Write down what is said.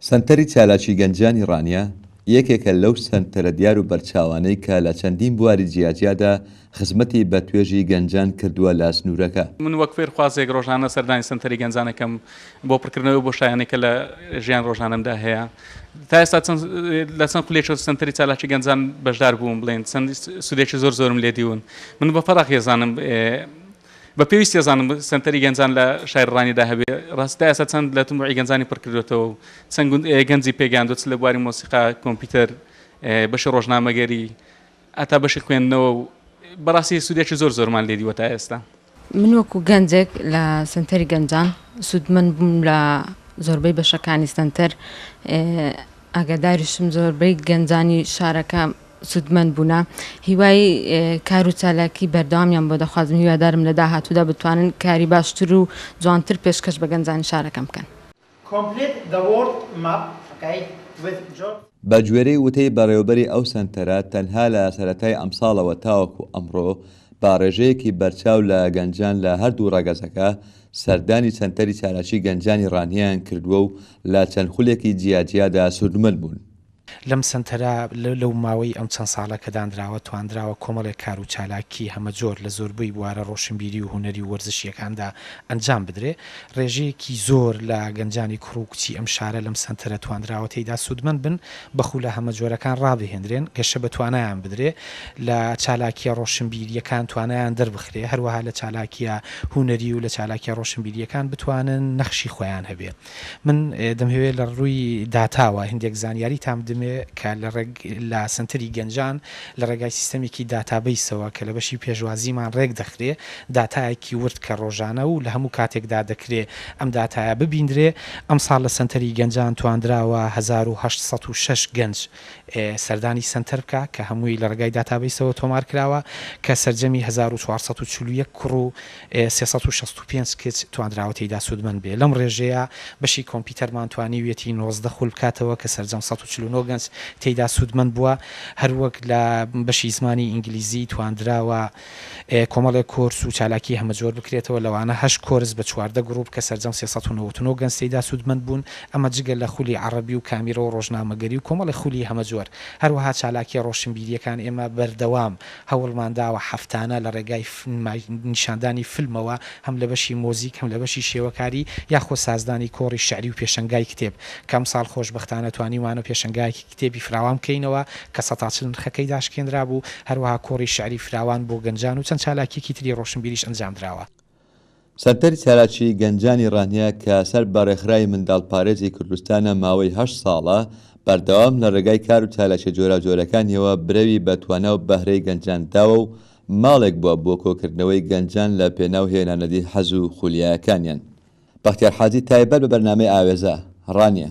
سەنتەری چالاکی گەنجانی ڕانیە یەکێکە لەو سەنتەرە دیار و بەرچاوانەی کە لە چەندین بواری جیاجیادا خزمەتی بە توێژی گەنجان کردووە لە سنوورەکە. من وەک فێرخوازێک ڕۆژانە سەردانی سەنتەری گەنجان ئەکەم بۆ پڕکردنەوەی ئەو بۆشایانەی کە لە ژیان ڕۆژانەمدا هەیە. تا ئێستا چەند لە چەند خولێکی سەنتەری چالاکی گەنجان بەشدار بووم بڵێن چەند سوودێکی زۆر زۆرم لێ دیون. من بە فەراغی ئەزانم بە پێویستی ئەزانم سەنتەری گەنجان لە شاری ڕانیدا هەبێ. ڕاستی تا ئێستا چەند لە تەموعی گەنجانی پڕ کردووەتەوە و چەند گەنجی پێگەیاندووە چ لە بواری مۆسیقا، کۆمپیوتەر، بەشی ڕۆژنامەگەری، هەتا بەشی خوێندنەوە و بەڕاستی سودێکی زۆر زۆرمان لێ دیوە تا ئێستا. من وەکو گەنجێک لە سنتەری گەنجان سوودمەند بووم لە زۆربەی بەشەکانی سنتەر ئاگاداریشم زۆربەی گەنجانی شارەکە سوودمەند بوونە هیوای کار و چالاکی بەردەوامیان بۆ دەخوازم هیوادارم لە داهاتوودا بتوانن کاری باشتر و جوانتر پێشکەش بە گەنجانی شارەکەم بکەن. Complete the world map okay with George. بەگوێرەی وتەی بەڕێوەبەری ئەو سەنتەرە، تەنها لە سەرەتای ئەمساڵەوە تاوەکو ئەمڕۆ، بە ڕێژەیەکی بەرچاو لە گەنجان لە هەردوو ڕەگەزەکە، سەردانی سەنتەری چالاکی گەنجانی ڕانیەیان کردووە و لە چەند خولێکی جیاجیادا سوودمەند بوون. لەم سەنتەرە لەو ماوەی ئەم چەند ساڵە کە دانراوە توانراوە کۆمەڵێک کار و چالاکی هەمەجۆر لە زۆربەی بوارە ڕۆشنبیری و هونەری و وەرزشییەکاندا ئەنجام بدرێ. ڕێژەیەکی زۆر لە گەنجانی کوڕ و کچی ئەم شارە لەم سەنتەرە توانراوە تێیدا سوودمەند بن، بە خوولە هەمەجۆرەکان ڕابهێندرێن، گەشە بە توانایان بدرێ، لە چالاکییە ڕۆشنبیرییەکان توانایان دەربخرێ، هەروەها لە چالاکییە هونەری و لە چالاکییە ڕۆشنبیرییەکان بتوانن نەخشی خۆیان هەبێ. من دەمهەوێ لە ڕووی داتاوە هیندێک زانیاریتان بدمێ کە لە ڕێگ لە سەنتەری گەنجان لە ڕێگای سیستەمێکی داتابەیسەوە کە لە بەشی پێشوازیمان ڕێک دەخرێ داتایەکی ورد کە ڕۆژانە و لە هەموو کاتێکدا دەکرێ ئەم داتایە ببیندرێ ئەمساڵ لە سەنتەری گەنجان تواندراوە هەزار و هەشت سەد و شەش گەنج سەردانی سەنتەر بکا کە هەمووی لە ڕێگای داتابەیسەوە تۆمار کراوە کە سەرجەمی هەزار و چوار سەد و چل و یەک کوڕ و سێ سەد و شەست و پێنج کچ توانراوە تێیدا سوودمەند بێت لەم ڕێژەیە، بەشی کۆمپیوتەرمان توانیویەتی نۆزدە خول بکاتەوە کە سەرجەم سەد و چل و نۆ گەنج تێیدا سوودمەند بووە، هەروەک لە بەشی زمانی ئینگلیزی توانراوە کۆمەڵێک کۆرس و چالاکی هەمەجۆر بکرێتەوە لەوانە هەشت کۆرس بە چواردە گروپ کە سەرجەم سێ سەد و نەوەد و نۆ گەنج تێیدا سوودمەند بوون، ئەمە جگە لە خولی عەڕەبی و کامیرە و ڕۆژنامەگەری و کۆمەڵێک خولی هەمەجۆر، هەروەها چالاکیە ڕۆشنبیریەکان ئێمە بەردەوام. هەوڵمان داوە هەفتانە لە ڕێگای نمایش نیشاندانی فیلمەوە هەم لە بەشی مۆزیک هەم لە بەشی شێوەکاری یاخۆ سازدانی کۆڕی شعری و پێشەنگای کتێب کە ئەمساڵ خۆشبەختانە توانیومانە پێشەنگایەکی کتێبی فراوان بکەینەوە کە سەتا چل نرخەکەی داشکێنرابوو هەروەها کۆڕی شعری فراوان بۆ گەنجان و چەند چالاکیەکی تری ڕۆشنبیریش ئەنجامدراوە. سەنتەری چالاکیی گەنجانی ڕانیە کە سەر بە ڕێکخراوی منداڵپارێزی کوردستانە ماوەی هەشت ساڵە بەردەوام لە ڕێگای کار و چالاکیە جۆراوجۆرەکانیەوە برەوی بە توانا و بەهرەی گەنجان داوە و ماڵێک بووە بۆ کۆکردنەوەی گەنجان لە پێناو هێنانەدی حەز و خولیاکانیان. بەختیار حاجی تایبەت بە بەرنامەی ئاوێزە، ڕانیە.